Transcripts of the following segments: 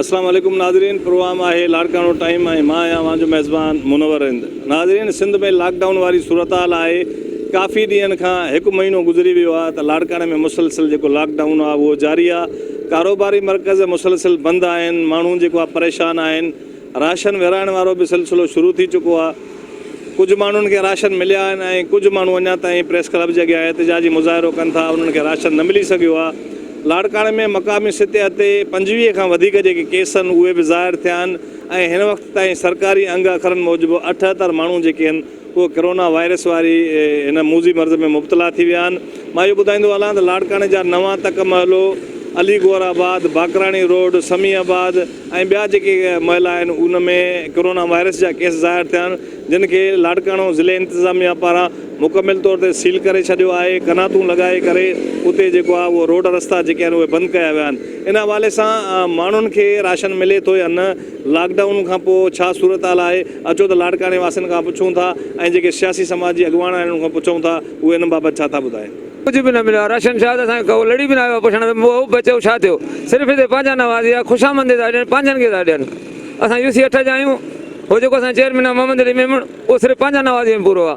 اسلام عليڪم ناظرين پروام آهي لاڙڪاڻو ٽائيم ۽ مان آهيان اوهان جو ميزبان منور رند ناظرين سنڌ ۾ لاڪ ڊائون واري صورتحال آهي ڪافي ڏينهن کان هڪ مهينو گذري ويو آهي ته لاڙڪاڻي ۾ مسلسل جيڪو لاڪ ڊائون آهي اهو جاري آهي ڪاروباري مرڪز مسلسل بند آهن ماڻهون جيڪو آهي پريشان آهن راشن ورهائڻ وارو به سلسلو شروع ٿي چڪو آهي، ڪجهه ماڻهن کي راشن مليا آهن ۽ ڪجهه ماڻهو اڃا تائين پريس ڪلب جي اڳيان احتجاجي مظاهرو ڪن ٿا، انهن کي راشن نه ملي سگهيو آهي، لاڙڪاڻي ۾ مقامي سطح تي پنجويهه کان وڌيڪ جيڪي ڪيس هن اهي به ظاهر ٿيا آهن ۽ هن وقت تائين سرڪاري انگ اکرن موجب اٺهتر ماڻهو جيڪي هن. اهي ڪرونا وائرس واري هن موذي مرض ۾ مبتلا ٿي ويا آهن. مان اهو ٻڌائيندو هلان ته لاڙڪاڻي جا نوان تڪ محلو، علي گوهر آباد، باقراڻي روڊ، سمي آباد ۽ ٻيا جيڪي محلا آهن ان ۾ ڪرونا وائرس جا ڪيس ظاهر ٿيا آهن جن کي لاڙڪاڻو ضلعي انتظاميا پاران مڪمل طور تي سيل ڪري ڇڏيو آهي قناتون لڳائي ڪري اتي جيڪو آهي اهو روڊ رستا جيڪي آهن اهي بند ڪيا ويا آهن ان حوالي سان ماڻهن کي راشن ملي ٿو يا نه لاڪ ڊائون کان پوء ڇا صورتحال آهي؟ اچو ته لاڙڪاڻي واسين کان پڇون ٿا ۽ جيڪي سياسي سماجي اڳواڻ آهن انهن کان پڇون ٿا اهي ان بابت ڇا ٿا ٻڌائين. ڪجهه به نه مليو آ راشن شاهد اسان کي ڪو لڙي به نه آيو آ پڇڻ ته مئو به چئو ڇا ٿيو صرف هتي پنهنجا نوازي آ خوشامندي ٿا ڏين پنهنجن کي ٿا ڏين اسان يو سي اٺ جا آهيون هو جيڪو اسان جو چيئرمين آ محمد علي ميمڻ اهو صرف پنهنجا نوازي ۾ پورو آ.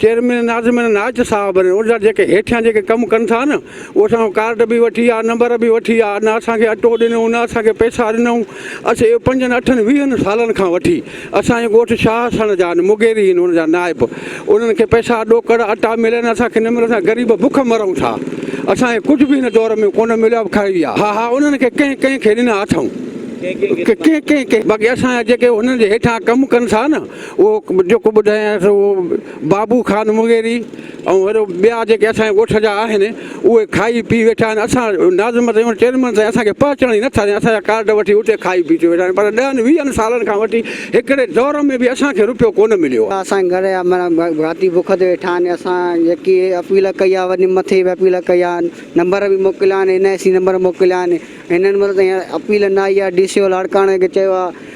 چيئرمين ناظمين نائچ صاحب ۽ ان جا جيڪي هيٺيان جيڪي ڪم ڪن ٿا نه اهي اسان کان ڪارڊ به وٺي ويا نمبر به وٺي ويا نه اسان کي اٽو ڏنو نه اسان کي پئسا ڏنئون اسين اهو پنجن اٺن ويهن سالن کان وٺي اسان جي ڳوٺ شاهه سڻ جا آهن مغيري آهن ان جا نائب انهن کي پئسا ڏوڪڙ اٽا ملن اسان کي نه ملن اسان غريب بک مرئون ٿا اسان کي ڪجهه به هن دور ۾ ڪونه مليو آهي کائي ويا ها ها انهن کي ڪنهن ڪنهن کي ڏنا اٿئون ڪنهن ڪنهن کي باقي اسان جا جيڪي انهن جي هيٺان ڪم ڪن ٿا نه. اهو جيڪو ٻڌايانء سو اهو بابو خان مغيري ۽ وڏو ٻيا جيڪي اسان جي ڳوٺ جا آهن اهي کائي پي ويٺا آهن اسان ناظم سائين چيئرمين سائين اسان کي پهچڻ ئي نٿا ڏين اسان جا ڪارڊ وٺي اتي کائي پي ٿي ويٺا آهن پر ڏهن ويهن سالن کان وٺي هڪڙي دور ۾ به اسان کي رپيو ڪونه مليو آهي. اسان گهر جا مڙا ڀاتي بک تي ويٺا آهن اسان جيڪي اپيل ڪئي آهي وڏي مٿي به اپيل ڪئي آهن نمبر به موڪليا آهن اين آء سي نمبر موڪليا آهن هنن مڙس تائين اپيل نه آئي آهي ڊي سي او لاڙڪاڻي کي چيو آهي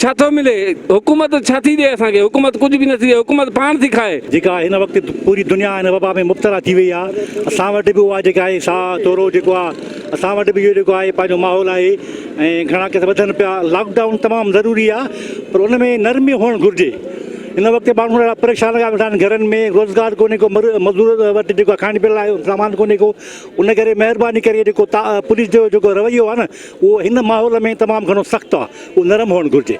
ڇا ٿو ملي؟ حڪومت ڇا ٿي ڏئي اسان کي؟ حڪومت ڪجهه به نه ٿي ڏئي، حڪومت پاڻ ٿي کائي. جيڪا هن وقت پوري دنيا هن وبا ۾ مبتلا ٿي وئي آهي، اسان وٽ به اها جيڪا آهي سا تورو جيڪو آهي، اسان وٽ به اهو جيڪو آهي پنهنجو ماحول آهي ۽ گهڻا ڪيس وڌن پيا، لاڪ ڊائون تمام ضروري آهي پر ان ۾ نرمي هئڻ گهرجي، هن وقت ماڻهو ڏاڍا پريشان لڳا ويٺا آهن گهرن ۾ روزگار ڪونهي ڪو مزور وٽ جيڪو آهي کائڻ پيئڻ لاء سامان ڪونهي ڪو ان ڪري مهرباني ڪري جيڪو پوليس جو جيڪو رويو آهي نه اهو هن ماحول ۾ تمام گهڻو سخت آهي، اهو نرم هئڻ گهرجي.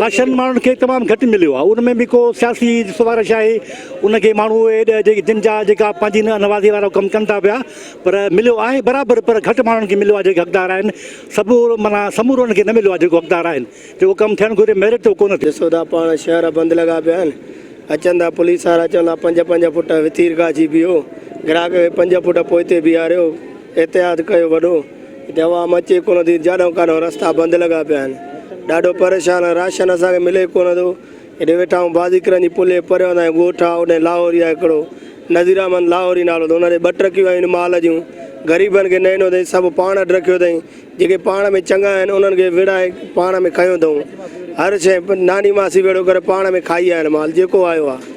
راشن ماڻهن کي تمام گهٽ مليو آهي، ان ۾ به ڪو سياسي سفارش آهي، ان کي ماڻهو اهي ڏهه جيڪي جن جا جيڪا پنهنجي نوازي وارو ڪم ڪن ٿا پيا، پر مليو آهي برابر پر گهٽ ماڻهن کي مليو آهي جيڪي حقدار آهن، سڀ معنيٰ سمورو ان کي نه مليو آهي جيڪو حقدار آهن، جيڪو ڪم ٿيڻ گهرجي ميرٽ جو ڪونه ٿيو. جسودا پاڻ شهر بند لڳا پيا آهن، اچن ٿا پوليس وارا چون ٿا پنج پنج فوٽ وٿير گاهه جي بيهو، گراهڪ کي پنج فوٽ پوئتي بيهاريو، احتياط ڪيو وڏو. هتي عوام اچي ڪونه ٿي جاڏو ڪاڏو رستا بند لڳا پيا آهن ڏاڍو پريشان آهن راشن اسان کي ملي ڪونه ٿو هيڏي ويٺا آهيون بازيڪرن جي پلي پريو اسان جو ڳوٺ آهي هوڏي لاهوري آهي هڪڙو نذير احمد لاهوري نالو اٿس ان ڏي ٻه ٽرڪيون آيون آهن مال جون غريبن کي نئنو اٿئي سڀ پاڻ اڏ رکيو اٿئي جيڪي پاڻ ۾ چڱا آهن انهن کي وڙهائي پاڻ ۾ کنيو اٿئون هر شيء ناني ماسي ويڙهو ڪري پاڻ ۾ کائي آيا آهن مال جيڪو آيو آهي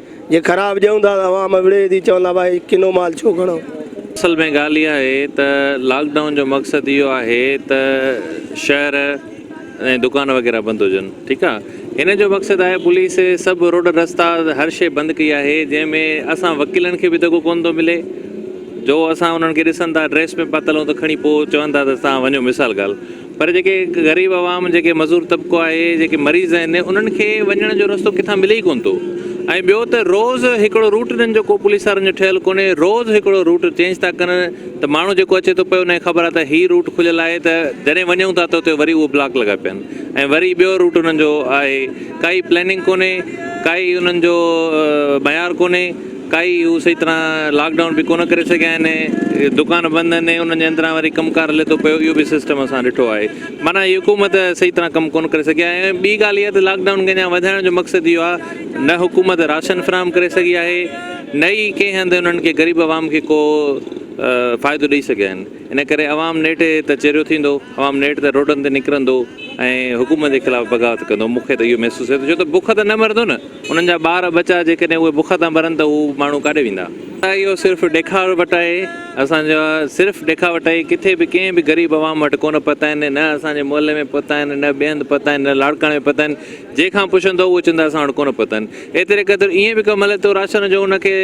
جي خراب ڏيون ٿا ته عوام وڙهي ٿي چوندا ڀائي ڪنو مال ڇو کڻو. اصل ۾ ڳالهه اها آهي ته لاڪ ڊائون جو مقصد اهو آهي ته شهر ۽ دڪان وغيره بند هجن ٺيڪ آ هن جو مقصد آهي پوليس سڀ روڊ رستا هر شي بند ڪئي آهي جنهن ۾ اسان وڪيلن کي به دڳو ڪون ٿو ملي جو اسان انهن کي ڏسن ٿا ڊريس ۾ پاتل هون ته کڻي پوء چون ٿا ته تهان وڃو مثال ڳالهه پر جيڪي غريب عوام، جيڪي مزور طبقو آهي، جيڪي مريض آهن، انهن کي وڃڻ جو رستو ڪٿان ملي ئي ڪونه ٿو ۽ ٻيو ته روز هڪڙو روٽ انهن جو ڪو پوليس وارن جو ٺهيل ڪونهي، روز هڪڙو روٽ چينج ٿا ڪن ته ماڻهو جيڪو اچي ٿو پئي ان کي خبر آهي ته هي روٽ کليل آهي ته جڏهن وڃون ٿا ته اتي وري اهو بلاڪ لڳا پيا آهن ۽ وري ٻيو روٽ انهن جو آهي ڪائي پليننگ ڪونهي ڪائي انهن جو معيار ڪونهي. ڪائي هو صحيح طرح لاڪ ڊائون به ڪونه ڪري سگهيا آهن دڪان بند آهن انهن جي اندران وري ڪم ڪار هلي ٿو پيو اهو به سسٽم اسان ڏٺو آهي معنيٰ هي حڪومت صحيح طرح ڪم ڪونه ڪري سگهي آهي ۽ ٻي ڳالهه اها ته لاڪ ڊائون کي اڃا وڌائڻ جو مقصد اهو آهي نه حڪومت راشن فراهم ڪري سگهي آهي نه ئي ڪنهن هنڌ انهن کي غريب عوام کي ڪو فائدو ڏئي سگهيا آهن ان ڪري عوام نيٺ ته چريو ٿيندو عوام نيٺ ته روڊن تي نڪرندو ۽ حڪومت جي خلاف بغاوت ڪندو مون کي ته اهو محسوس ٿئي ٿو ڇو ته بک ته نه مرندو نه انهن جا ٻار ٻچا جيڪڏهن اهي بک تان مرن ته هو ماڻهو ڪاڏي ويندا؟ ڇا اهو صرف ڏيکاوٽ آهي؟ اسان جا صرف ڏيکاوٽ آهي. ڪٿي به ڪنهن به غريب عوام وٽ ڪونه پتا آهن، نه اسان جي محلي ۾ پتا آهن، نه ٻئي هنڌ پتا آهن، نه لاڙڪاڻي ۾ پتا آهن. جنهن کان پڇندؤ اهو چوندا اسان وٽ ڪونه پتا آهن. ايتري قدر ائين به ڪم هلي ٿو راشن جو ان کي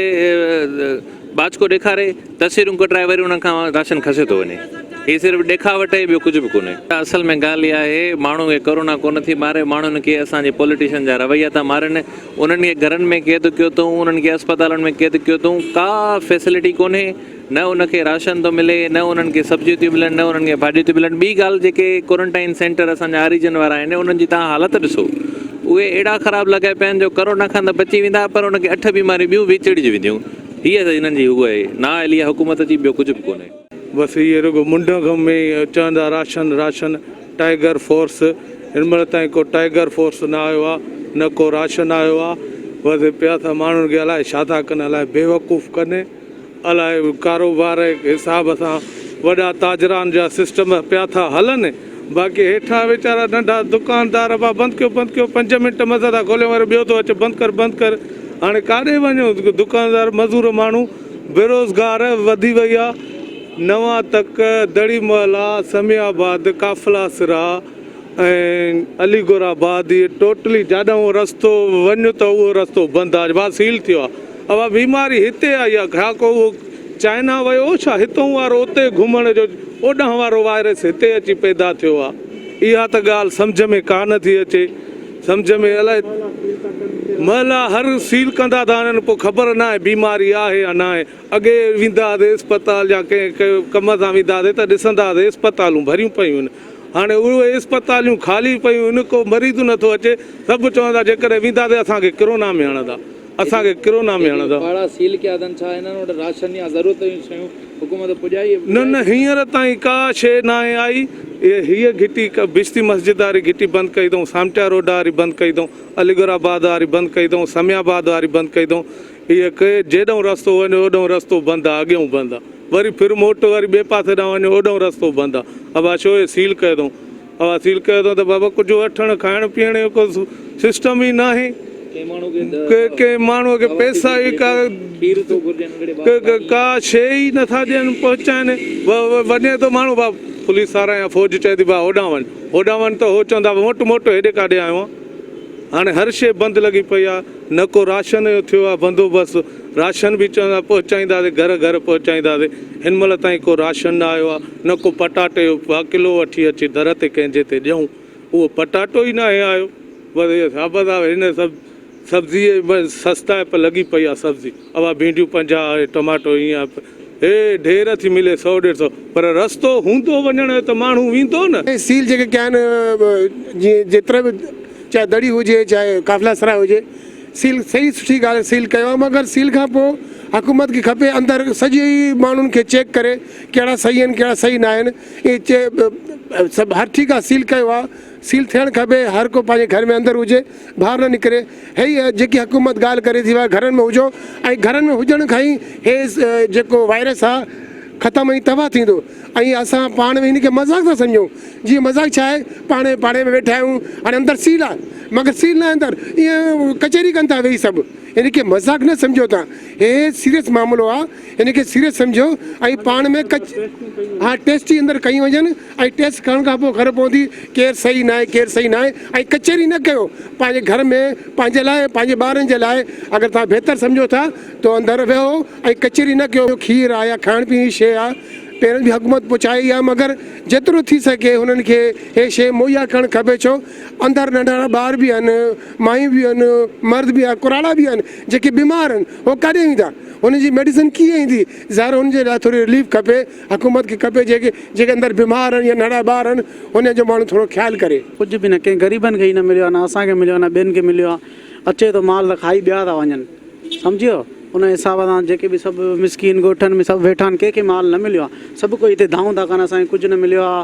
ٻاچڪو ڏيکاري تصويرون ڪڍرائي وري انهن کان راشن کسي ٿو وڃي. هي صرف ڏيکاوٽ اهي ٻيو ڪجهه به ڪونهي. اصل ۾ ڳالهه اها آهي ماڻهو کي ڪورونا ڪونه ٿي ماري ماڻهن کي اسان جي پوليٽيشن جا رويا ٿا مارن انهن کي گهرن ۾ قيد ڪيو اٿئون انهن کي اسپتالن ۾ قيد ڪيو اٿئون ڪا فيسلٽي ڪونهي نه ان کي راشن ٿو ملي نه انهن کي سبزيون ٿيون ملن نه انهن کي ڀاڄيون ٿيون ملن ٻي ڳالهه جيڪي ڪورنٽائن سينٽر اسان جا آريجن وارا آهن انهن جي تهان حالت ڏسو اهي اهڙا خراب لڳائي پيا آهن جو ڪرونا کان ته بچي ويندا پر ان کي اٺ بيماريون ٻيون به چڙهجي وينديون. هيء ته هنن جي هوء آهي، نااهلي آهي حڪومت جي، ٻيو ڪجهه به ڪونهي. بس اهي رڳو منڍ ۾ ئي چوندا راشن راشن، ٽائيگر فورس، هن مهل تائين ڪو ٽائيگر فورس نه آيو آهي، نه ڪو راشن آيو آهي، بس پيا ته ماڻهن کي الائي ڇا ٿا ڪن، الائي بيوقوف ڪن. الاء ڪاروبار جي حساب سان وڏا تاجران جا سسٽم پيا ٿا هلن باقي هيٺان ويچارا ننڍا دڪاندار ابا بند ڪيو بند ڪيو پنج منٽ مزه سان کوليو وري ٻيو ٿو اچ بند ڪر بند ڪر هاڻي ڪاڏي وڃو دڪاندار مزور ماڻهو بيروزگار وڌي وئي آ نوان تڪ دڙي محلا سمي آباد قافلا سرا ۽ علي گور آباد هي ٽوٽلي جاڏانهون رستو وڃ ته اهو رستو بند آ سيل ٿيو آ. اها بيماري هتي آئي يا گهراڪو اهو چائنا ويو ڇا هتئون وارو اتي گهمڻ جو اوڏانهن وارو وائرس هتي اچي پيدا ٿيو آهي اها ته ڳالهه سمجهه ۾ ڪا نه ٿي اچي سمجهه ۾ الائي مهلا هر سيل ڪندا ٿا انهن پوء خبر ناهي بيماري آهي يا ناهي اڳي ويندا هئاسي اسپتال يا ڪنهن ڪم سان ويندا هئاسي ته ڏسندا هئاسي اسپتالون ڀريون پيون آهن هاڻي اهي اسپتالون خالي پيون آهن ڪو مريض نه ٿو اچي سڀ چون ٿا جيڪڏهن وينداسي اسان کي ڪرونا ۾ هڻندا اسان کي ڪرونا ۾ هڻندا. ٻاڙا سيل ڪيا اٿن ڇا هنن وٽ راشن يا ضرورت جون شيون حڪومت پڄائي. نه نه هينئر تائين ڪا شي ناهي آئي هيء گهٽي بشتي مسجد واري گهٽي بند ڪئي اٿئون سامٽيا روڊ واري بند ڪئي اٿئون عليگڙھ آباد واري بند ڪئي اٿئون سمي آباد واري بند ڪئي اٿئون هيء ڪي جيڏئون رستو وڃ اوڏئون رستو بند آ اڳئون بند آ وري ڦر موٽ وري ٻئي پاسي ڏانهن وڃ اوڏئون رستو بند آ ابا شو هي سيل ڪيو اٿئون. او اصيل ڪهيو اٿن ته بابا ڪجهه وٺڻ کائڻ پيئڻ جو ڪو سسٽم ئي ناهي ڪنهن ماڻهو کي پئسا ئي ڪا ڪا شي ئي نٿا ڏين پهچائين وڃي ٿو ماڻهو با پوليس وارا يا فوج چئي ٿي با هوڏانهن وڃ هوڏانهن وڃ ته هو چوندا موٽ موٽ هيڏي ڪاڏي آيو آهي هاڻي هر شي بند لڳي پئي آهي نه ڪو راشن جو ٿيو آهي بندوبست، راشن به چون ٿا پهچائينداسين گهر گهر پهچائينداسين، هن مهل تائين ڪو راشن نه آيو آهي، نه ڪو پٽاٽي جو پاء ڪلو وٺي اچي در تي ڪنهن جي تي ڏيون، اهو پٽاٽو ئي ناهي آيو، بس اهي ثابت آهي هن سڀ سبزيء سستائپ لڳي پئي آهي سبزي اها ڀينڊيون پنجاهه اهي ٽماٽو هيئن هي ڍير ٿي ملي سؤ ڏيڍ سؤ پر رستو هوندو وڃڻ جو ته ماڻهو ويندو نه. هي سيل جيڪي ڪيا آهن جيئن جيترا به چاهي دڙي هجي چاهي قافلا سرا هجي سيل صحيح سٺي ڳالهه سيل ڪيو آهن مگر سيل کان پوء حڪومت کي کپي اندر سڄي ماڻهن کي چيڪ ڪري ڪهڙا صحيح آهن ڪهڙا صحيح ناهن اهي چي سڀ هر ٺيڪ آهي سيل ڪيو آهي سيل ٿيڻ کپي هر ڪو پنهنجي گهر ۾ اندر هجي ٻاهر نه نڪري هي جيڪي حڪومت ڳالهه ڪري ٿي اها گهرن ۾ هجو ۽ گهرن ۾ هجڻ کان ئي هي جيڪو وائرس آ ختم ۽ تباهه ٿيندو ۽ اسان پاڻ ۾ هن کي مذاق ٿا سمجهون جي مذاق ڇا آهي پاڻي پاڙي ۾ ويٺا آهيون هاڻي اندر سيل آ مگر سيل ناهي اندر ائين ڪچهري ڪن ٿا ويهي سڀ هن کي مذاق نه سمجهو تان هي سيريس معاملو آ هن کي سيريس سمجهو ۽ پاڻ ۾ ڪچ ها ٽيسٽي اندر ڪيون وڃن ۽ ٽيسٽ ڪرڻ کان پوء خبر پوندي ڪير صحيح ناهي ڪير صحيح ناهي ۽ ڪچهري نه ڪيو پنهنجي گهر ۾ پنهنجي لاء ۽ پنهنجي ٻارن جي لاء اگر توهان بهتر سمجهو ٿا ته اندر ويهو ۽ ڪچهري نه ڪيو کير آ يا کائڻ پيئڻ جي شيء آ پهرين به حڪومت پهچائي ئي آ مگر جيترو ٿي سگهي هنن کي هي شيء مهيا ڪرڻ کپي ڇو اندر ننڍڙا ٻار به آهن مايون به آهن مرد به آهن ڪراڙا به آهن جيڪي بيمار آهن هو ڪاڏي ويندا هنن جي ميڊيسن ڪيئن ايندي ظاهر هنن جي لاء ٿوري رليف کپي. حڪومت کي کپي جيڪي جيڪي اندر بيمار آهن يا نڙا ٻار آهن انهن جو ماڻهو ٿورو خيال ڪري. ڪجهه به نه ڪنهن غريبن کي ئي نه مليو آهي نه اسان کي مليو آهي نه ٻين کي مليو آهي اچي ٿو مال ته کائي ٻيا ٿا وڃن سمجهيو ان حساب سان جيڪي به سڀ مسڪين ڳوٺن ۾ سڀ ويٺا آهن ڪنهن کي مال نه مليو آهي سڀ ڪوئي هتي دانهون ٿا ڪن اسان کي ڪجهه نه مليو آهي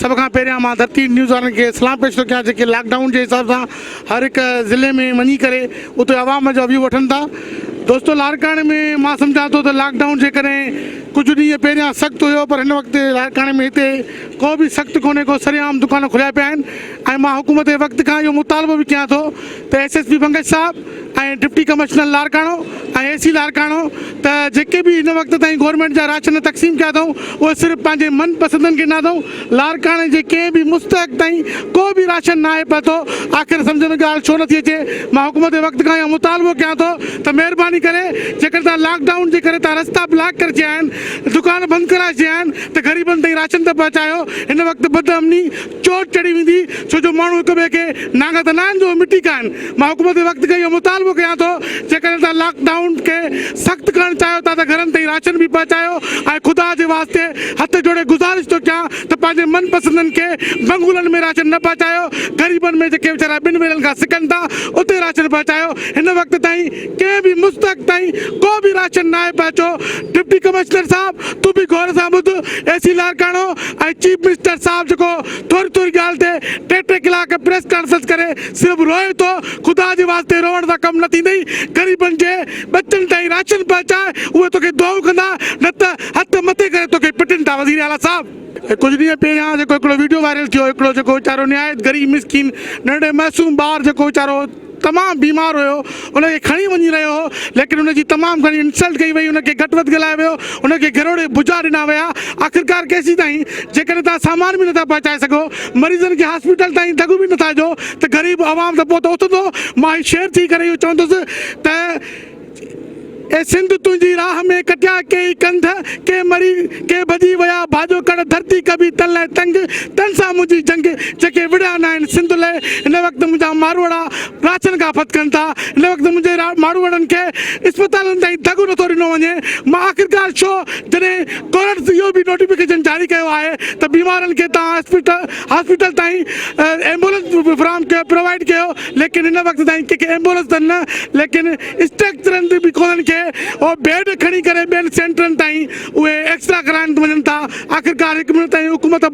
سڀ کان پهريان مان ڌرتي نيوز وارن کي سلام پيش ٿو ڪيان جيڪي لاڪ ڊائون جي حساب سان هر هڪ ضلعي ۾ وڃي ڪري اتي عوام جا ويو وٺن ٿا دوستو لاڙڪاڻي ۾ مان سمجهان ٿو ته لاڪ ڊائون جيڪڏهن ڪجهه ڏينهن پهريان سخت هيو پر هن وقت لاڙڪاڻي ۾ هتي ڪو به سخت ڪونهي ڪو سري عام دڪان کليا پيا آهن ۽ مان حڪومت وقت کان اهو مطالبو به ڪيان ٿو ته ايس ايس پي بنگش صاحب ۽ ڊپٽي ڪمشنر لاڙڪاڻو ۽ اي سي لاڙڪاڻو ته جيڪي به هن وقت تائين گورنمينٽ جا راشن تقسيم ڪيا اٿئون اهي صرف پنهنجي من پسندن کي ڏنا اٿئون لاڙڪاڻي جي ڪنهن به مستحق تائين ڪو به راشن ناهي پهتو آخر سمجهه ۾ ڳالهه ڇو نٿي اچي مان حڪومت وقت کان اهو مطالبو ڪيان ٿو ته مهرباني ڪري جيڪڏهن توهان لاڪ ڊائون جي ڪري توهان رستا بلاڪ ڪري ڇڏيا آهن دڪان بند ڪرائي ڇڏيا آهن ته غريبن تائين راشن ته پهچايو هن وقت بد امني چوٽ چڙهي ويندي ڇو جو ماڻهو هڪ ٻئي کي نانگا ته نه آهن جو مٽي کائن. مان حڪومت کي وقت کان اهو مطالبو ڪيان ٿو جيڪڏهن توهان لاڪ ڊائون کي سخت ڪرڻ چاهيو ٿا ته گهرن تائين راشن به پهچايو ۽ خدا جي واسطي هٿ جوڙي گذارش ٿو ڪيان ته پنهنجي من پسندن کي بنگلن ۾ راشن نه پهچايو غريبن ۾ جيڪي ويچارا ٻن ويلن کان سڪن ٿا اتي راشن پهچايو هن وقت تائين ڪنهن به مستحق تائين ڪو به راشن ناهي پهچو ڊپٽي ڪمشنر صاحب تون به غور سان ٻڌ اي سي لاڙڪاڻو ۽ چيف منسٽر صاحب جيڪو ٿوري ٿوري ڳالهه تي ٽي ٽي ڪلاڪ پريس ڪانفرنس ڪري صرف روئي ٿو خدا جي واسطي روئڻ سان ڪم نه ٿيندئي غريبن جي ٻچن تائين راشن پهچاء اهي توکي دعائون ڪندا نه ته هٿ مٿي ڪري توکي پٽن ٿا وزير اعليٰ صاحب ڪجهه ڏينهن پهريان جيڪو هڪڙو وڊيو وائرل ٿيو هڪڙو جيڪو ويچارو نهايت غريب مسڪين ننڍڙي معصوم ٻار جيڪو ويچارو تمام بيمار هيو ان کي کڻي وڃي رهيو هو ليڪن ان جي تمام گهڻي انسلٽ ڪئي وئي ان کي گهٽ وڌ ڳالهايو ويو ان کي گهروڙي بجا ڏنا ويا آخرڪار ڪيسين تائين جيڪڏهن توهان سامان به نٿا پهچائي سگهو مريضن کي هاسپيٽل تائين ڍڳ به نٿا ڏيو ته غريب عوام ته پوء ته اٿندو مان هي شعر چئي ڪري اهو چوندس ته اي سنڌ تنهنجي راهه ۾ ڪٽيا ڪيئي ڪنڌ، ڪي مري ڪي ڀڄي ويا ڀاڄو ڪڙ ڌرتي ڪبي تن لئه تنگ، تن سان منهنجي جنگ جيڪي وڙهيا ناهن سنڌ لئه هن وقت منهنجا ماروئڙا راڇن کان ڦٿڪن ٿا هن وقت منهنجي ماروئڙن کي اسپتالن تائين دڳو نٿو ڏنو وڃي مان آخرڪار ڇو جڏهن ڪورٽس اهو به نوٽيفڪيشن جاري ڪيو آهي ته بيمارن کي توهان اسپتال هاسپيٽل تائين ايمبولنس به فراهم ڪيو پرووائيڊ ڪيو ليڪن هن وقت تائين ڪنهن کي ايمبولنس ته نه ليڪن اسٽريڪچرن تي به ڪونهن کي اهو بيڊ کڻي ڪري ٻين سينٽرن تائين اهي ايڪسرا ڪرائڻ وڃن ٿا آخرڪار هڪ منٽ تائين حڪومت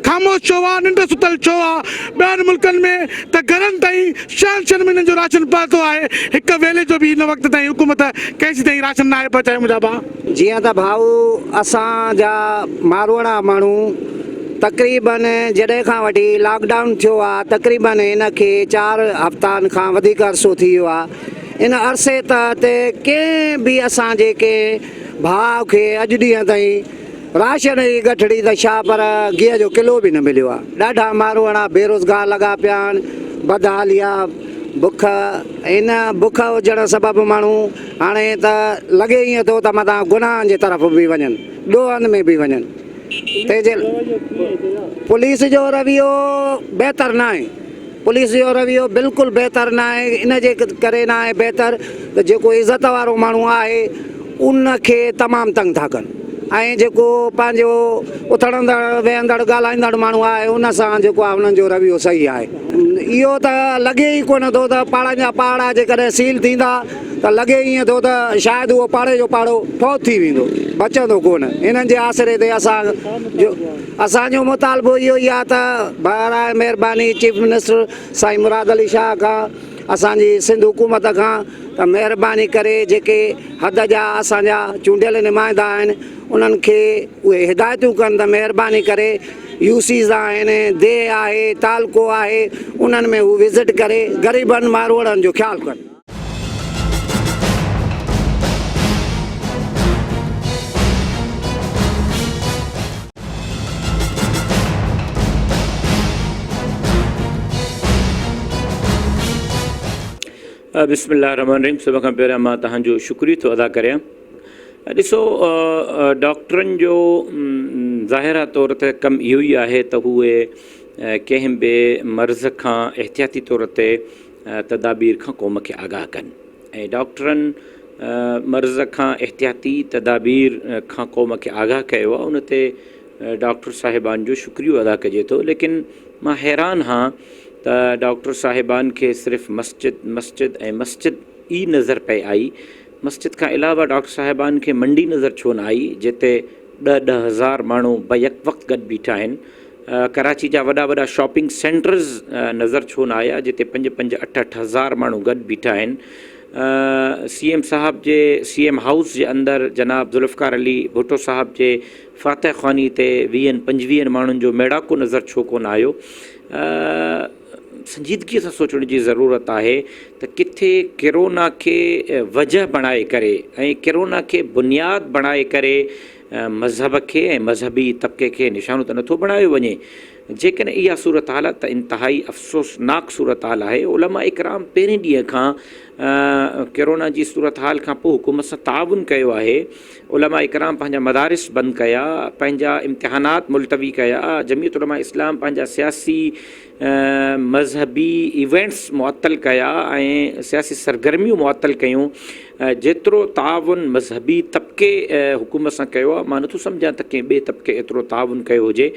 خاموش ڇو آهي ننڊ ستل ڇو آهي ٻين ملڪن ۾ ته گهرن تائين شهن شهن مهينن جو راشن پهتو آهي هڪ ويلي جو به هن وقت تائين حڪومت ڪنهن جي تائين راشن ناهي پهچايو منهنجا ڀا جيئن ته ڀائو اسان جا ماروئڙا ماڻهو تقريبن جڏهن کان وٺي لاڪ ڊائون ٿيو آ تقريبن ان کي چار هفتان کان وڌيڪ عرصو ٿي ويو آ ان عرصي تحت ڪنهن به اسان جي ڪنهن ڀاء کي اڄ ڏينهن تائين راشن جي ڳٺڙي ته ڇا پر گيهه جو ڪلو به نه مليو آ ڏاڍا ماروئڙا بيروزگار لڳا پيا آهن بدحالي آ بک ان بک هجڻ سبب ماڻهو هاڻي ته لڳي ائين ٿو ته متان گناهن جي طرف به وڃن، ڏوهن ۾ به وڃن. تنهن جي پوليس جو رويو بهتر ناهي. پوليس جو رويو بلڪل بهتر ناهي. ان جي ڪري ناهي بهتر ته جيڪو عزت وارو ماڻهو آهي ان کي تمام تنگ ٿا ڪن ۽ جيڪو پنهنجو اٿڙندڙ ويهندڙ ڳالهائيندڙ ماڻهو آهي ان سان جيڪو آهي انهن جو رويو صحيح آهي. اهو ته لڳي ئي ڪونه ٿو ته پاڙن جا پاڙا جيڪڏهن سيل ٿيندا. ته لڳي ائين ٿو ته شايد اهو پاڙي جو پاڙو فوت ٿي ويندو، بچندو ڪونه. انهن جي آسري تي اسان جو اسان جو مطالبو اهو ئي آهي ته براء مهرباني چيف منسٽر سائين مراد علي شاهه کان اسان جي سنڌ حڪومت کان ته مهرباني ڪري جيڪي حد جا اسان جا چونڊيل نمائندا آهن انهن کي اهي هدايتون ڪن ته مهرباني ڪري يو سيز آهن، ديهه آهي، تعلقو آهي انهن ۾ هو وزٽ ڪري غريبن ماروئڙن جو خيال ڪن. بسم الله الرحمن الرحيم سڀ کان پهريان مان تهان جو شڪري ٿو ادا ڪريان ڏسو ڊاڪٽرن جو ظاهرا طور تي ڪم اهو ئي آهي ته هو ڪنهن به مرض کان احتياطي طور تي تدابير کان قوم کي آگاهه ڪن ۽ ڊاڪٽرن مرض کان احتياطي تدابير کان قوم کي آگاهه ڪيو آهي ان تي ڊاڪٽر صاحبان جو شڪريو ادا ڪجي ٿو ليڪن مان حيران هان ته ڊاڪٽر صاحبان کي صرف مسجد مسجد ۽ مسجد ئي نظر پئي آئي مسجد کان علاوه ڊاڪٽر صاحبان کي منڊي نظر ڇو نه آئي جتي ڏهه ڏهه هزار ماڻهو بيڪ وقت گڏ بيٺا آهن ڪراچي جا وڏا وڏا شاپنگ سينٽرز نظر ڇو نه آيا جتي پنج پنج اٺ اٺ هزار ماڻهو گڏ بيٺا آهن سي ايم صاحب جي سي ايم هائوس جي اندر جناب ذوالفقار علي ڀٽو صاحب جي فاتح خواني تي ويهن پنجويهن ماڻهن جو ميڙاڪو نظر ڇو ڪونه آيو سنجيدگي سان سوچڻ جي ضرورت آهي ته ڪٿي ڪرونا کي وجه بڻائي ڪري ۽ ڪرونا کي بنياد بڻائي ڪري مذهب کي ۽ مذهبي طبقي کي نشانو ته نٿو بڻايو وڃي. جيڪڏهن اها صورتحال آهي ته انتهائي افسوسناڪ صورتحال آهي. علماء ڪرام پهرين ڏينهن کان ڪرونا جي صورتحال کان پوء حڪومت سان تعاون ڪيو آهي. علماء ڪرام پنهنجا مدارس بند ڪيا، پنهنجا امتحانات ملتوي ڪيا، جمعيت علماء اسلام پنهنجا سياسي، مذهبي ايونٽس معطل ڪيا ۽ سياسي سرگرميون معطل ڪيون جيترو تعاون مذهبي طبقي حڪومت سان ڪيو آهي مان نٿو سمجهان ته ڪنهن ٻئي طبقي ايترو تعاون ڪيو هجي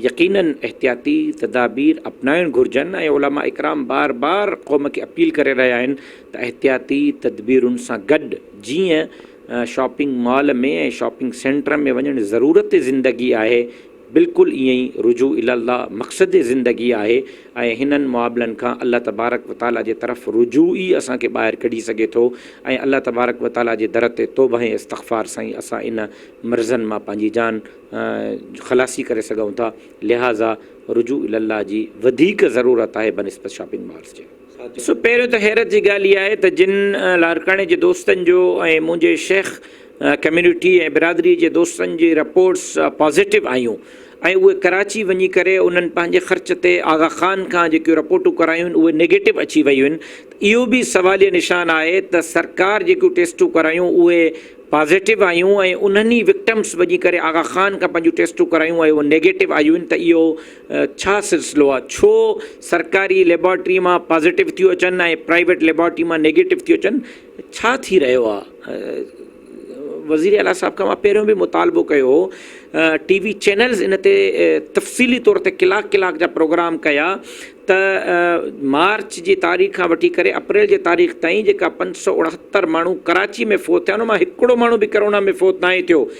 يقينن احتياطي تدابير اپنائڻ گهرجن ۽ علماء اڪرام بار بار قوم کي اپيل ڪري رهيا آهن ته احتياطي تدبيرن سان گڏ جيئن شاپنگ مال ۾ ۽ شاپنگ سينٽر ۾ وڃڻ ضرورت زندگي آهي بلڪل ائين ئي رجوع الي الله مقصد زندگي آهي ۽ هنن معاملن کان الله تبارڪ و تعالي جي طرف رجوع ئي اسان کي ٻاهر ڪڍي سگهي ٿو ۽ الله تبارڪ و تعالي جي در تي توبه ۽ استغفار سان ئي اسان ان مرضن مان پنهنجي جان خلاصي ڪري سگهون ٿا لهٰذا رجوع الي الله جي وڌيڪ ضرورت آهي بنسبت شاپنگ مالز جي. ڏسو پهريون ته حيرت جي ڳالهه اها آهي ته جن لاڙڪاڻي جي دوستن جو ۽ منهنجي شيخ ڪميونٽي ۽ برادري جي دوستن جي رپورٽس پازيٽو آيون ۽ اهي ڪراچي وڃي ڪري انهن پنهنجي خرچ تي آغا خان کان جيڪيون رپورٽون ڪرايون اهي نيگيٽو اچي ويون آهن ته اهو به سواليه نشان آهي ته سرڪار جيڪيون ٽيسٽون ڪرايون اهي پازيٽو آيون ۽ انهن ئي وڪٽمس وڃي ڪري آغا خان کان پنهنجون ٽيسٽون ڪرايون ۽ اهي نيگيٽو آيون ته اهو ڇا سلسلو آ ڇو سرڪاري ليبارٽري مان پازيٽو ٿيو اچن ۽ پرائيويٽ ليبارٽري مان نيگيٽو ٿيو اچن ڇا ٿي رهيو آ وزير اعليٰ صاحب کان مان پهريون به مطالبو ڪيو هو ٽي وي چينلز ان تي تفصيلي طور تي ڪلاڪ ڪلاڪ جا پروگرام ڪيا ته مارچ جي تاريخ کان وٺي ڪري اپريل جي تاريخ تائين جيڪا پنج سؤ اڻهتر ماڻهو ڪراچي ۾ فوت ٿيا ان مان هڪڙو ماڻهو به ڪرونا ۾ فوت ناهي ٿيو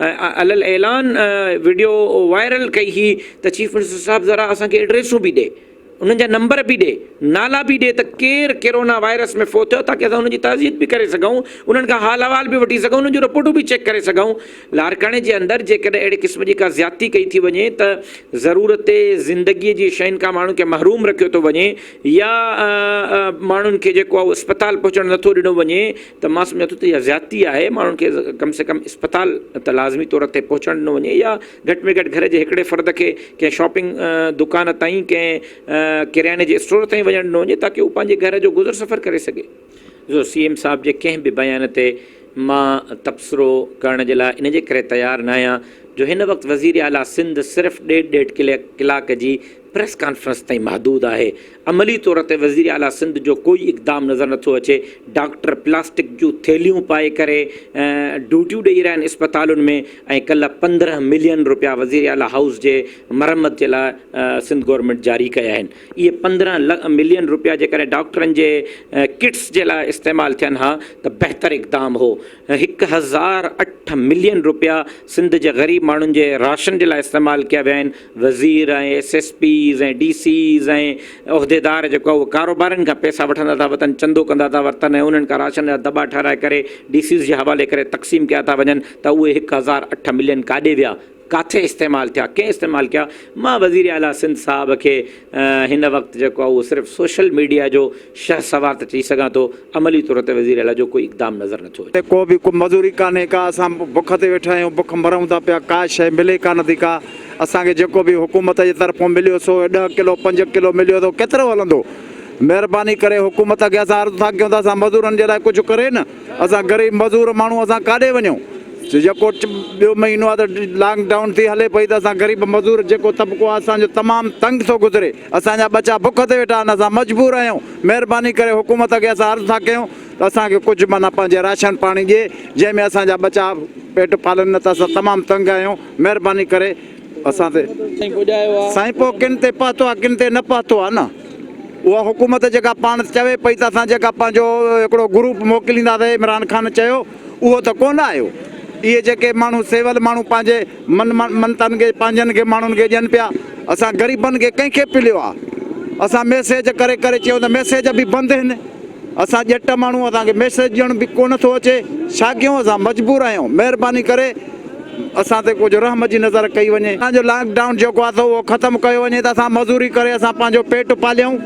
علي الاعلان وڊيو وائرل ڪئي هي ته چيف منسٽر صاحب ذرا اسان کي ايڊريسون به ڏي انهن جا نمبر به ڏي نالا به ڏي ته ڪير ڪيرونا وائرس ۾ فوت ٿيو تاڪي اسان ان جي تعزيت به ڪري سگهون انهن کان حال احوال به وٺي سگهون انهن جون رپورٽون به چيڪ ڪري سگهون لاڙڪاڻي جي اندر جيڪڏهن اهڙي قسم جي ڪا زيادتي ڪئي ٿي وڃي ته ضرورت زندگي جي شين کان ماڻهن کي محروم رکيو ٿو وڃي يا ماڻهن کي جيڪو اسپتال پهچڻ نٿو ڏنو وڃي ته مان سمجهان ٿو ته اها زيادتي آهي ماڻهن کي ڪم سي ڪم اسپتال ته لازمي طور تي پهچڻ ڏنو وڃي يا گهٽ ۾ گهٽ گهر جي هڪڙي فرد کي ڪنهن شاپنگ دڪان تائين ڪنهن ڪرياني جي اسٽور تائين وڃڻ ڏنو وڃي تاڪه هو پنهنجي گهر جو گذر سفر ڪري سگهي. جو سي ايم صاحب جي ڪنهن به بيان تي مان تبصرو ڪرڻ جي لاء ان جي ڪري تيار ناهيان جو هن وقت وزير اعليٰ سنڌ صرف ڏيڍ ڏيڍ ڪلاڪ جي پريس ڪانفرنس تائين محدود آهي، عملي طور تي وزير اعليٰ سنڌ جو ڪوئي اقدام نظر نٿو اچي، ڊاڪٽر پلاسٽڪ جون ٿيلهيون پائي ڪري ڊيوٽيون ڏئي رهيا آهن اسپتالن ۾ ۽ ڪلهه پندرهن ملين رپيا وزير اعليٰ هائوس جي مرمت جي لاء سنڌ گورنمينٽ جاري ڪيا آهن، اهي پندرهن ملين رپيا جيڪڏهن ڊاڪٽرن جي ڪٽس جي لاء استعمال ٿين ها ته بهتر اقدام هو، هڪ هزار اٺ ملين رپيا سنڌ جي غريب ماڻهن جي راشن جي لاء استعمال ڪيا ويا آهن، وزير ۽ S S Ps ۽ D Cs ۽ عهديدار جيڪو اهي ڪاروبارين کان پئسا وٺندا ٿا وتن چندو ڪندا ٿا ورتن ۽ انهن کان راشن جا دٻا ٺهرائي ڪري ڊي سيز جي حوالي ڪري تقسيم ڪيا ٿا وڃن ته اهي هڪ هزار اٺ ملين ڪاڏي ويا ڪاٿي استعمال ٿيا، ڪنهن استعمال ڪيا، مان وزير اعليٰ سنڌ صاحب کي هن وقت جيڪو آهي اهو صرف سوشل ميڊيا جو شهسوار ته چئي سگهان ٿو، عملي طور تي وزير اعليٰ جو ڪوئي اقدام نظر نٿو اچي. ڪو به ڪو مزوري ڪانهي ڪا، اسان بک تي ويٺا آهيون، بک مرون ٿا پيا، ڪا شيء ملي ڪانه ٿي ڪا، اسان کي جيڪو به حڪومت جي طرفون مليو سو ڏهه ڪلو پنج ڪلو مليو ته ڪيترو هلندو، مهرباني ڪري حڪومت کي اسان عرض ٿا ڪيون ته اسان مزورن جي لاء ڪجهه ڪري نه. اسان غريب مزور ماڻهو اسان ڪاڏي وڃون جيڪو ٻيو مهينو آ ته لانگ ڊائون ٿي هلي پئي ته اسان غريب مزور جيڪو طبقو آ اسان جو تمام تنگ ٿو گذري اسان جا ٻچا بک تي ويٺا آهن اسان مجبور آهيون مهرباني ڪري حڪومت کي اسان عرض ٿا ڪيون ته اسان کي ڪجهه معنيٰ پنهنجي راشن پاڻي ڏي جنهن ۾ اسان جا ٻچا پيٽ پالن نه ته اسان تمام تنگ آهيون مهرباني ڪري اسان تي سائين پوء ڪن تي پهتو آ ڪن تي نه پهتو آ نه اها حڪومت جيڪا پاڻ چوي پئي ته اسان جيڪا پنهنجو هڪڙو گروپ موڪلينداسي عمران خان چيو اهو ته ڪونه آيو اهي جيڪي ماڻهو سول ماڻهو پنهنجي من منتن کي پنهنجن کي ماڻهن کي ڏين پيا اسان غريبن کي ڪنهن کي پليو آ اسان ميسيج ڪري ڪري چيو ته ميسيج به بند هن اسان ڄٽ ماڻهو اسان کي ميسيج ڏيڻ به ڪونه ٿو اچي ڇا ڪيون اسان مجبور آهيون مهرباني ڪري اسان تي ڪجهه رحم جي نظر ڪئي وڃي اسان جو لانگ ڊائون جيڪو آ سو اهو ختم ڪيو وڃي ته اسان مزوري ڪري اسان پنهنجو پيٽ پاليون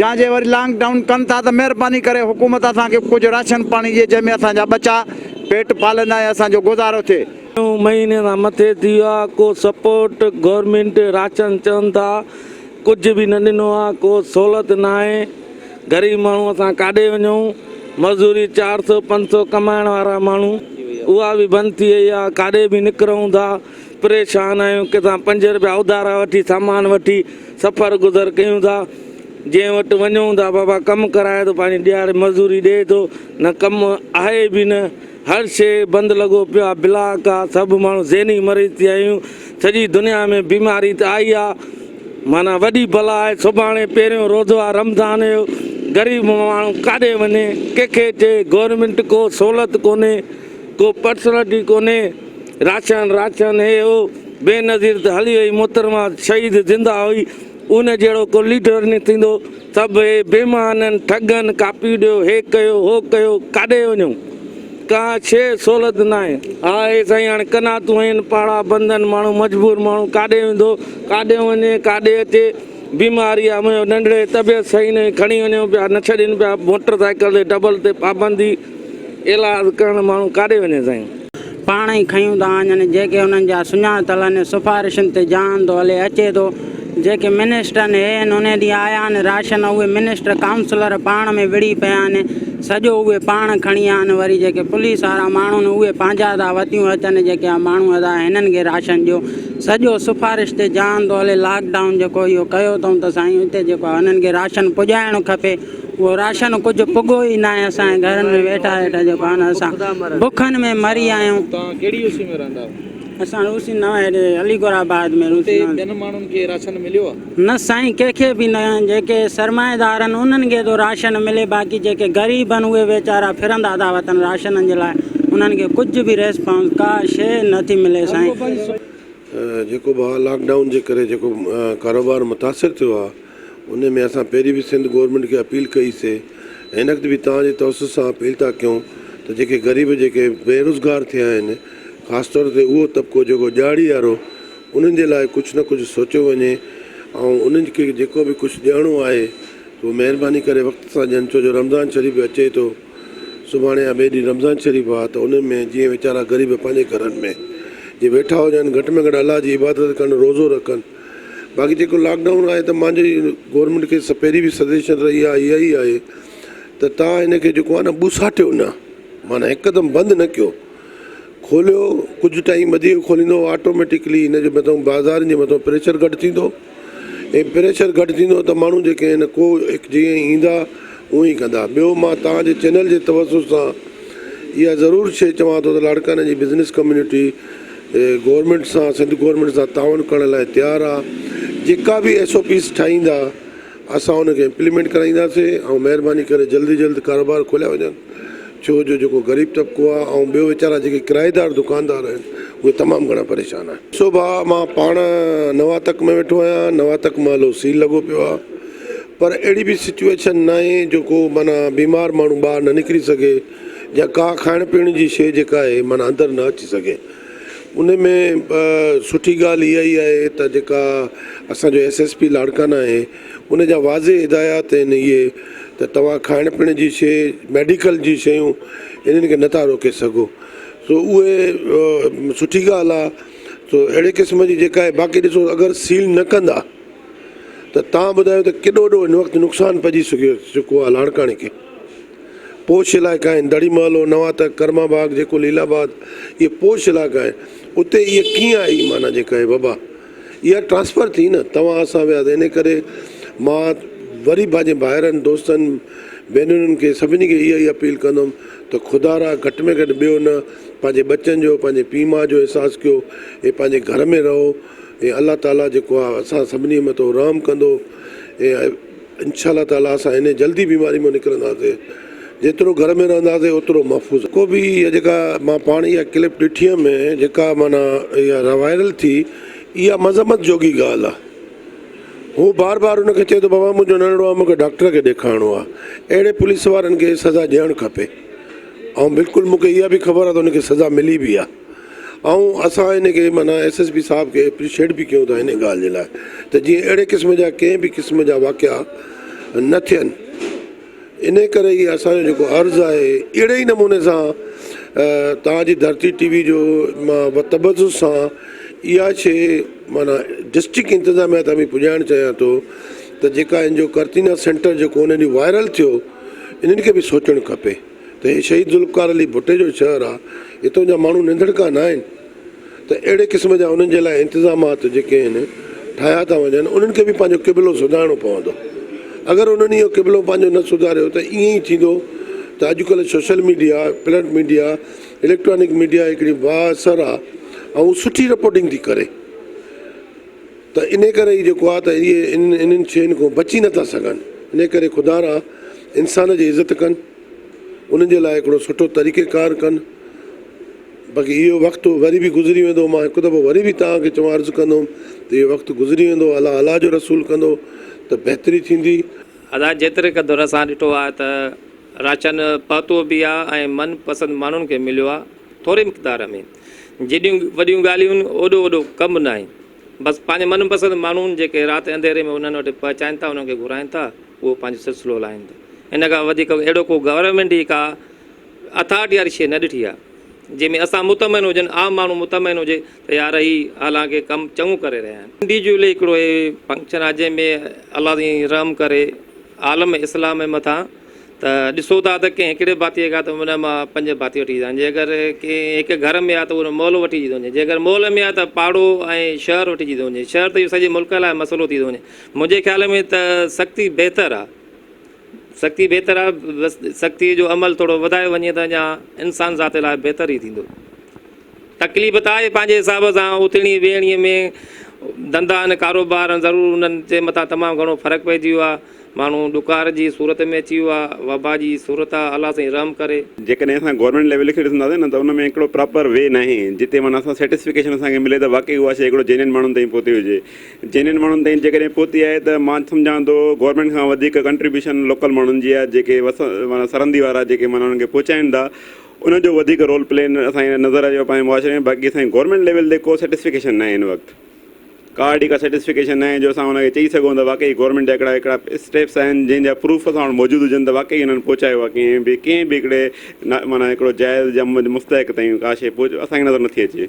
جا جي وري لانگ ڊائون ڪن ٿا ته مهرباني ڪري حڪومت اسان کي ڪجهه راشن پاڻي ڏي جنهن ۾ اسان جا ٻچا پيٽ پالن ۽ اسان جو گذارو ٿئي. ٽيون مهيني کان مٿي ٿي ويو آ ڪو سپورٽ گورنمينٽ راشن چون ٿا ڪجهه به نه ڏنو آ ڪو سهولت ناهي غريب ماڻهو اسان ڪاڏي وڃون مزوري چار سئو پنج سئو ڪمائڻ وارا ماڻهو اها به بند ٿي وئي آهي ڪاڏي به نڪرون ٿا پريشان آهيون ڪٿان پنج رپيا اڌارا وٺي سامان وٺي سفر گذر ڪيون ٿا جنهن وٽ وڃون ٿا بابا ڪم ڪرائي ٿو پنهنجي ڏيهاڙي مزوري ڏئي ٿو نه ڪم آهي به نه هر شيء بند لڳو پيو آ بلا ڪا سڀ ماڻهو ذهني مريض ٿي ويا آهيون سڄي دنيا ۾ بيماري ته آئي آ معنيٰ وڏي بلا آهي سڀاڻي پهريون روزو آ رمضان جو غريب ماڻهو ڪاڏي وڃي ڪنهن کي چئي گورنمينٽ ڪو سهولت ڪونهي ڪو پرسنلٽي ڪونهي راشن راشن هي هو بينظير ته هلي وئي محترمه شهيد زنده هئي ان جهڙو ڪو ليڊر نه ٿيندو. سڀ اهي بي معنن ٺڳن ڪاپي ڏيو هي ڪيو هو ڪيو ڪاڏي وڃون ڪا شيء سهولت ناهي ها اي سائين هاڻي قناعتون هين پاڙا بندن ماڻهو مجبور ماڻهو ڪاڏي ويندو ڪاڏي وڃي ڪاڏي اچي بيماري آ منهنجو ننڍڙي طبيعت صحيح ناهي کڻي وڃون پيا نه ڇڏين پيا موٽر سائيڪل تي ڊبل تي پابندي ايلاز ڪرڻ ماڻهو ڪاڏي وڃي سائين. پاڻ ئي کنيون ٿا آڃن جيڪي انهن جا سڃاتل ان سفارشن تي جهان ٿو هلي اچي ٿو جيڪي منسٽرن هي ان انهي ڏينهن آيا آهن راشن اهي منسٽر ڪائونسلر پاڻ ۾ وڙهي پيا آهن سڄو اهي پاڻ کڻي آهن وري جيڪي پوليس وارا ماڻهو آهن اهي پنهنجا ٿا وتيون اچن جيڪي اها ماڻهو ادا هنن کي راشن ڏيو سڄو سفارش تي جهان ٿو هلي لاڪ ڊائون جيڪو اهو ڪيو اٿئون ته سائين هتي جيڪو آهي انهن کي راشن پڄائڻ کپي اهو راشن ڪجهه پڳو ئي ناهي، اسان جي گهرن ۾ ويٺا ويٺا جيڪو آهن اسان بکن ۾ مري آهيون. توهان ڪهڙي اوسي ۾ رهندا آهيو؟ اسان اوسي نه هيڏي علي گور آباد ۾ رهون ٿا. اتي ٻين ماڻهن کي راشن مليو آهي؟ نه سائين ڪنهن کي به نه، جيڪي سرمائيدار آهن انهن کي ٿو راشن ملي باقي جيڪي غريب آهن اهي ويچارا ڦرندا ٿا وتن راشنن جي لاء انهن کي ڪجهه به ريسپانس ڪا شيء نه ٿي ملي سائين. جيڪو ڀاء لاڪ ڊائون جي ڪري جيڪو ڪاروبار متاثر ٿيو آهي. انهيء ۾ اسان پهرين به سنڌ گورنمينٽ کي اپيل ڪئي سي ۽ هن وقت به توهان جي توسط سان اپيل ٿا ڪيون ته جيڪي غريب جيڪي بي روزگار ٿيا آهن خاص طور تي اهو طبقو جيڪو ڏيهاڙي وارو انهن جي لاء ڪجهه نه ڪجهه سوچيو وڃي ۽ انهن کي جيڪو به ڪجهه ڏيڻو آهي سو مهرباني ڪري وقت سان ڏين ڇو جو رمضان شريف به اچي ٿو سڀاڻي يا ٻئي ڏينهن رمضان شريف آهي ته انهن ۾ جيئن ويچارا غريب پنهنجي گهرن ۾ جي ويٺا هجن گهٽ ۾ گهٽ الله جي عبادت ڪن روزو رکن. باقي جيڪو لاڪ ڊائون آهي ته مانجي گورنمينٽ کي پهرين به سجيشن رهي آهي اها ئي آهي ته تان هن کي جيڪو آهي نه ٻوساٽيو نه معنيٰ هڪدم بند نه ڪيو کوليو ڪجهه ٽائيم وڌيڪ کوليندو آٽوميٽڪلي هن جي مٿان بازارن جي مٿان پريشر گهٽ ٿيندو ۽ پريشر گهٽ ٿيندو ته ماڻهو جيڪي آهن ڪو جيئن ايندا هونء ئي ڪندا. ٻيو مان توهان جي چينل جي توسط سان اها ضرور شيء چوان ٿو ته لاڙڪاڻي جي بزنس ڪميونٽي گورنمينٽ سان سنڌ گورنمينٽ سان تعاون ڪرڻ لاء تيار آ. جيڪا به ايس او پيز ٺاهيندا اسان ان کي امپليمينٽ ڪرائينداسين ۽ مهرباني ڪري جلد جلد ڪاروبار کوليا وڃن ڇو جو جيڪو غريب طبقو آ ۽ ٻيو ويچارا جيڪي ڪرائيدار دڪاندار آهن اهي تمام گهڻا پريشان آهن. ڏسو ڀاء مان پاڻ نواتڪ ۾ ويٺو آهيان نواتڪ محلو سيل لڳو پيو آ. پر اهڙي به سچوئيشن ناهي جو ڪو معنيٰ بيمار ماڻهو ٻاهر نه نڪري سگهي يا ڪا کائڻ پيئڻ جي شيء جيڪا آهي معنيٰ اندر نه اچي سگهي. ان ۾ سٺي ڳالهه اها ئي آهي ته جيڪا اسان جو ايس ايس پي لاڙڪانا آهي ان جا واضح هدايات آهن اهي ته توهان کائڻ پيئڻ جي شيء ميڊيڪل جي شيون انهن کي نٿا روڪي سگهو سو اهي سٺي ڳالهه آهي سو اهڙي قسم جي جيڪا آهي باقي ڏسو اگر سيل نه ڪندا ته توهان ٻڌايو ته ڪيڏو وڏو هن وقت نقصان پئجي چڪو آهي لاڙڪاڻي کي. پوش علائقا آهن، دڙي محلو، نواتڪ، ڪرما باغ جيڪو ليل آباد اهي پوش علائقا آهن، اتي هيء ڪيئن آئي معنيٰ جيڪا هيء وبا؟ اها ٽرانسفر ٿي نه، توهان اسان ويا ته انهيء ڪري مان وري پنهنجي ڀائرن، دوستن، ڀينرن کي سڀني کي اها ئي اپيل ڪندم ته خدارا گهٽ ۾ گهٽ ٻيو نه پنهنجي ٻچن جو، پنهنجي پيء ماء جو احساس ڪيو، اي پنهنجي گهر ۾ رهو. اي الله تعاليٰ جيڪو آ اسان سڀني مٿو رحم ڪندو اي انشاء الله تعاليٰ اسان انهي جلدي بيماري مون نڪرنداسي جيترو گهر ۾ رهنداسي اوترو محفوظ ڪو به اها جيڪا مان پاڻ اها ڪلپ ڏٺي هيم جيڪا معنيٰ اها روائرل ٿي اها مذمت جوڳي ڳالهه آ هو بار بار ان کي چئي ٿو بابا منهنجو ننڙو آ مون کي ڊاڪٽر کي ڏيکارڻو آ اهڙي پوليس وارن کي سزا ڏيڻ کپي ۽ بلڪل مون کي اها به خبر آ ته ان کي سزا ملي به آ آئون اسان ان کي معنيٰ ايس ايس پي صاحب کي اپريشيٽ به ڪيون ٿا ان ڳالهه جي لاء ته جيئن اهڙي قسم جا ڪنهن به قسم جا واقعا نه ٿين ان ڪري هي اسان جو جيڪو عرض آهي اهڙي ئي نموني سان توهان جي ڌرتي ٽي وي جو مان بتبذ سان اها شي معنيٰ ڊسٽرڪٽ انتظاميا تان به پڄائڻ چاهيان ٿو ته جيڪا ان جو ڪرتينا سينٽر جيڪو ان ڏينهن وائرل ٿيو انهن کي به سوچڻ کپي ته هي شهيد ذوالفقار علي ڀٽي جو شهر آ، هتان جا ماڻهو ننڌڻڪا ناهن ته اهڙي قسم جا انهن جي لاء انتظامات جيڪي آهن ٺاهيا ٿا وڃن انهن کي به پنهنجو قبلو سڌارڻو پوندو اگر انهن اهو قبلو پنهنجو نه سڌاريو ته ائين ئي ٿيندو ته اڄ ڪلهه social media print media electronic media هڪڙي بااثر آ ۽ سٺي رپورٽنگ ٿي ڪري. ته انهيء ڪري ئي جيڪو آهي ته اهي انهن شين کان بچي نه ٿا سگهن. انهيء ڪري خدا را انسان جي عزت ڪن، انهن جي لاء هڪڙو سٺو طريقه ڪار ڪن. باقي اهو وقت وري به گذري ويندو. مان هڪ دفعو وري به توهان کي چوڻ عرض ڪندوم ته اهو وقت گذري ويندو. الله الله جو رسول ڪندو ته بهتري ٿيندي. ادا جيتري قدر اسان ڏٺو آهي ته راشن پهتو به آهي ۽ من پسند ماڻهن کي مليو آهي ٿوري مقدار ۾. جيڏيون وڏيون ڳالهيون آهن اوڏو وڏو ڪم ناهي. بس پنهنجي من پسند ماڻهن جيڪي رات انڌيري ۾ انهن وٽ پهچائين ٿا انهن کي گهرائين ٿا اهو پنهنجو سلسلو هلائين ٿا ان کان وڌيڪ اهڙو ڪو گورنمينٽ جي ڪا اٿارٽي واري شيء نه ڏٺي آهي جنهن ۾ اسان مطمئن هجن عام ماڻهو مطمئن هجي ته يار هي حالانڪه ڪم چڱو ڪري رهيا آهن. ان ڊي جي لي هڪڙو هي فنڪشن آهي جنهن ۾ الله سائين رحم ڪري عالم اسلام مٿان. ته ڏسو ٿا ته ڪنهن هڪڙي ڀاتيء کان ته ان مان پنج ڀاتي وٺي ايندا آهن، جي اگر ڪنهن هڪ گهر ۾ آهي ته ان مئل وٺجي ٿو وڃي، جي اگر مئل ۾ آهي ته پاڙو ۽ شهر وٺجي ٿو وڃي، شهر ته اهو سڄي ملڪ لاء مسئلو ٿي ٿو وڃي، منهنجي خيال ۾ ته سختي بهتر آهي، سختي بهتر آهي، بس سختيء جو عمل ٿورو وڌايو وڃي ته اڃا انسان ذات لاء بهتر ئي ٿيندو. تڪليف ته آهي پنهنجي حساب سان اٿڻي ويهڻي ۾ ڌنڌائن ڪاروبارن ضرور انهن جي مٿان تمام گهڻو فرق پئجي ويو آهي ماڻهو ڏڪار جي صورت ۾ اچي ويو آهي وبا جي صورت آهي الله سائين رحم ڪري. جيڪڏهن اسان گورنمينٽ ليول کي ڏسنداسين نه ته ان ۾ هڪڙو پراپر وي ناهي جتي معنيٰ اسان سيٽسفڪيشن اسان کي ملي ته واقعي اها شيء هڪڙو جينين ماڻهن تائين پهتي هجي جينين ماڻهن تائين جيڪڏهن پهتي آهي ته مان سمجهان ٿو گورنمينٽ کان وڌيڪ ڪنٽريبيوشن لوڪل ماڻهن جي آهي جيڪي وس معنيٰ سرندي وارا جيڪي معنيٰ انهن کي پهچائين ٿا ان جو وڌيڪ رول پلي اسان کي نظر اچيو پنهنجي معاشري ۾ باقي اسان جي گورنمينٽ ليول تي ڪو سيٽسفڪيشن ناهي هن وقت ڪا اهڙي ڪا سيٽسفڪيشن ناهي جو اسان ان کي چئي سگهون ته واقعي گورنمينٽ جا هڪڙا هڪڙا اسٽيپس آهن جنهن جا پروف اسان وٽ موجود هجن ته واقعي انهن پهچايو آهي ڪنهن به ڪنهن به هڪڙي معنيٰ هڪڙو جائز يا مستحق تائين ڪا شيء اسان کي نظر نٿي اچي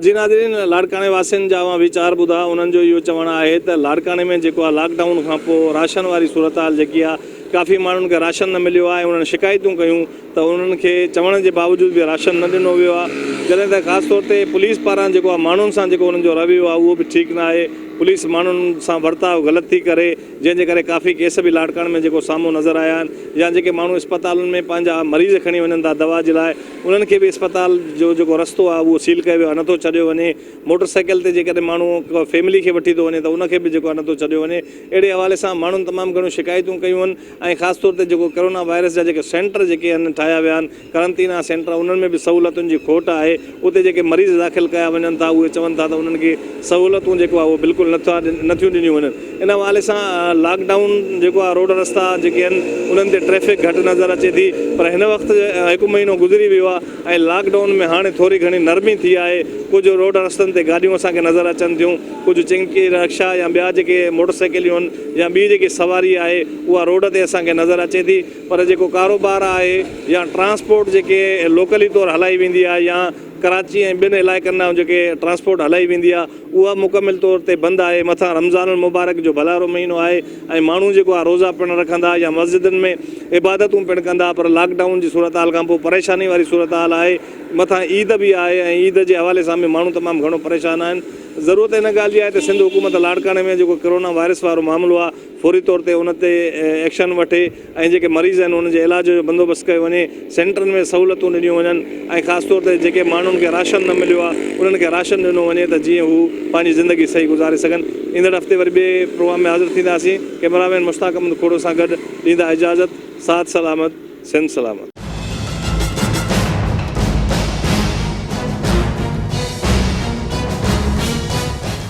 جي ناظرين لاڙڪاڻي واسين جا اوهان ويچار ٻڌا انهن جو اهو چوڻ آهي ته لاڙڪاڻي ۾ جيڪو آهي لاڪ ڊائون کان پوء راشن واري صورتحال جيڪي آهي ڪافي ماڻهن کي راشن نه مليو آهي انهن شڪايتون ڪيون ته انهن کي چوڻ جي باوجود به راشن نه ڏنو ويو آهي جڏهن ته خاص طور تي پوليس پاران جيڪو آهي ماڻهن سان جيڪو انهن جو رويو آهي اهو به ٺيڪ نه آهي پوليس ماڻهن سان ورتاء غلط ٿي ڪري جنهن جي ڪري ڪافي ڪيس به لاڙڪاڻي ۾ جيڪو سامهون نظر آيا آهن يا جيڪي ماڻهو اسپتالن ۾ پنهنجا مريض کڻي وڃن ٿا دوا جي لاء انهن کي به اسپتال جو جيڪو رستو آهي اهو سيل ڪيو ويو آهي نه ٿو ڇڏيو وڃي موٽر سائيڪل تي جيڪڏهن ماڻهو ڪا فيملي کي وٺي ٿو وڃي ته ان کي به جيڪو آهي نه ٿو ڇڏيو وڃي اهڙي حوالي سان ماڻهن تمام گهڻيون شڪايتون ڪيون آهن ۽ خاص طور تي جيڪو ڪرونا وائرس جا جيڪي سينٽر جيڪي آهن ٺاهيا ويا آهن قرنطينه سينٽر انهن ۾ به سهولتن جي کوٽ آهي اتي جيڪي مريض داخل ڪيا وڃن ٿا اهي چون ٿا ته انهن کي سهولتون جيڪو آهي اهو بلڪل نه ٿا نه ٿيون ڏنيون وڃن ان حوالي سان لاڪ ڊائون جيڪو آهي روڊ رستا جيڪي آهن انهن تي ٽريفڪ گهٽ نظر اچي ٿي پر هن وقت هڪ مهينو گذري ويو آهي ۽ لاڪ ڊائون ۾ هاڻي ٿوري گهڻي نرمي ٿي آهي ڪجهه روڊ رستن تي گاڏيون اسان کي نظر اچن ٿيون ڪجهه چنگڪي رڪشا يا ٻيا جيڪي موٽر سائيڪليون آهن يا ٻي جيڪي سواري آهي اها روڊ تي اسان کي نظر اچي ٿي پر جيڪو ڪاروبار آهي يا ٽرانسپورٽ جيڪي لوڪلي طور هلائي ويندي آهي يا ڪراچي ۽ ٻين علائقن ڏانهن جيڪي ٽرانسپورٽ هلائي ويندي آهي اها مڪمل طور تي بند آهي مٿان رمضان المبارڪ جو ڀلارو مهينو آهي ۽ ماڻهو جيڪو آهي روزا پڻ رکندا يا مسجدن ۾ عبادتون پڻ ڪندا پر لاڪ ڊائون جي صورتحال کانپوء پريشاني واري صورتحال آهي مٿان عيد به آهي ۽ عيد جي حوالي سان به ماڻهو تمام گهڻو پريشان آهن ضرورت ان ڳالهه جي آهي ته سنڌ حڪومت لاڙڪاڻي ۾ جيڪو ڪرونا وائرس وارو معاملو آهي فوري طور تي ان تي ايڪشن وٺي ۽ جيڪي مريض آهن انهن جي علاج جو بندوبست ڪيو وڃي، سينٽرن ۾ سهولتون ڏنيون وڃن ۽ خاص طور تي جيڪي ماڻهن کي راشن نه مليو آهي انهن کي راشن ڏنو وڃي ته جيئن هو پنهنجي زندگي صحيح گذاري سگهن. ايندڙ هفتي وري ٻئي پروگرام ۾ حاضر ٿينداسين. ڪئميرا مين مشتاق احمد کوڙو سان گڏ ڏيندا اجازت. ساٿ سلامت، سنڌ سلامت.